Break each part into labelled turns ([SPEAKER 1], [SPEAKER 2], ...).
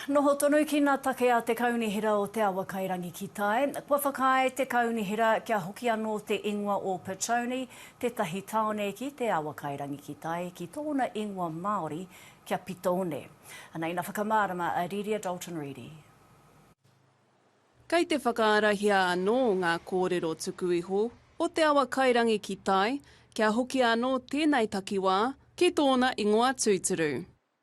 [SPEAKER 1] Noho tonu ki na take a te Kaunihera o Te Awakairangi ki tai. Kua whakaae te Kaunihera kia hoki ano te ingoa o Petone, tetahi taone ki Te Awakairangi ki tai, ki tona ingoa Maori kia Pitone. Ana ina whakamarama a Riria Dalton Reedy. Kei te whakaarahia anō ngā kōrero tuku iho o Te Awakairangi ki tai kia hoki anō tēnei takiwā ki tōna ingoa tūturu.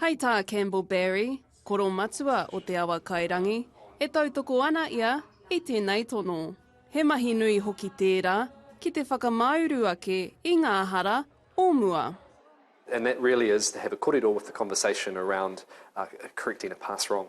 [SPEAKER 1] Hei tā Campbell Barry, koro matua o Te Awa Kairangi, e tautoko ana ia i tēnei tono. He mahi nui hoki tērā ki te whakamāuru ake i ngā hara o mua. And that really is to have a korero with the conversation around correcting a past wrong.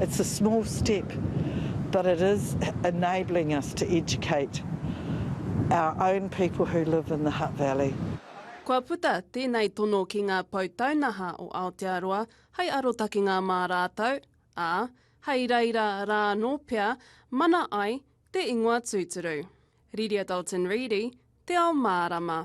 [SPEAKER 1] It's a small step but it is enabling us to educate our own people who live in the Hutt Valley. Kua puta tēnei tono ki ngā pou taunaha o Aotearoa hai arotakenga mā rātou, ā, hai reira rā anō pea mana ai te ingoa tūturu. Riria Dalton Reedy, Te Ao Mārama.